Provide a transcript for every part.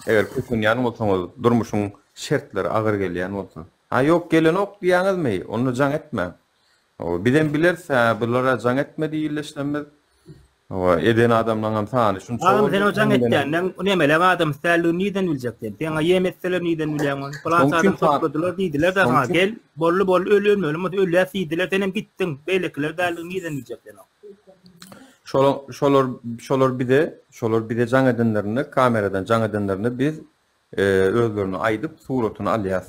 Eger kösenýän bolsaňyz, durmuşyň şertleri agyr gelýän bolsa. Ha ýok gelenok diýýäňizmi, onda jaň etmäň. Hawa, bizem bileris, hä, bular-a jaň etme diýildi eşlemmiz. Hawa, eden adamlaňam sany şunça Agam sen boldy, o jaň hemleniň. etýänden nemeleň adamsy däldigini nirden biljek sen? Seňa ýem etseler nirden bilýäň ony? Pylança Şoň üçin adam sa- topladylar diýdiler-de şoň saňa üçin- gel, bolly-bolly öl ölmeli bolmasa ölýäs diýdiler, senem gitdiň. Beýlekiler däldigini nirden biljek sen oň? Şolar, şolar, şolar bize, şolar bize jaň edenlerinde, kameradan jaň edenlerinde biz e, özlerini aydyp suratını alyas.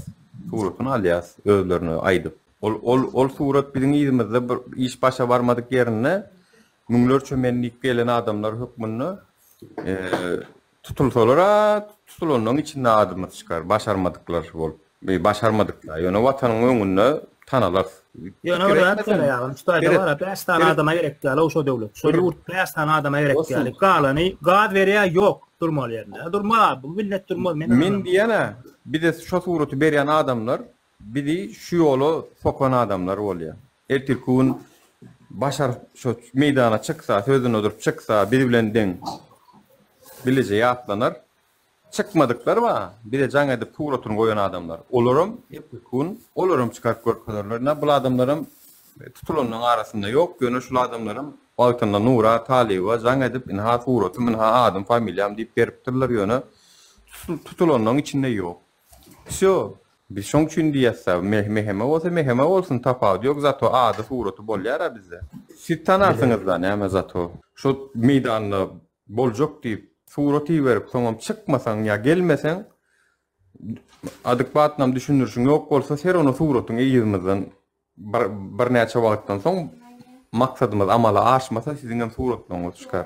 Suratını alyas özlerini aydyp. Ol, ol, ol surat bizim izimizde bir iş başa barmadyk yerinde müňlerçe men diýip gelen adamlar hökmünde e, Tutulsalar-a, tutulanlaryň içinde adymyz çykar, başarmadyklar bolup, başarmadyk-da, ýöne Watanyň öňünde tanalarys. Ýöne bir zat ýene ýagyn, şu taýda bar-a, bäş sany adama gerek däl-ow şo döwlet, şo ýurt bäş sany adama gerek däl, galany gaz berýär, ýok, durmaly ýerinde, durmaz-a, bu millet durmaz, men diýýän-ä, bize şo suraty berýän adamlar, Bizi şu ýola sokan adamlar bolýa. Ertirki gün Başar şo meýdana çyksa, sözüne durup çyksa, biz bilen deň bileje ýatlanar. Çykmadyklar bar, bize jaň edip suratyny goýan adamlar. Olaram ertirki gün olaram çykaryp görkezerler. Ine bul adamlaram tutulanlaryň arasynda ýok, ýöne şul adamlaram wagtynda Nura Talyba jaň edip, ynha suratym, ynha adym, familiýam diýip beripdirler, ýöne tutulanlaryň içinde ýok. Vsýo, biz şoň üçin diýýäs-dä, Meh Meheme bolsa Meheme bolsun, tapawudy ýok, zato ady-suraty bolýar-a bizde. Siz tanarsyňyz-da, näme zato. Şo meýdanda boljak diýip, surat iberip, soňam çykmasaň ýa gelmeseň, adekbatnam düşündirişiň ýok bolsa, ser onda suratyň yzymyzdan bir birnäçe wagtdan soň maksadymyz amala aşmasa, siziňem suratlaryňyz çykar.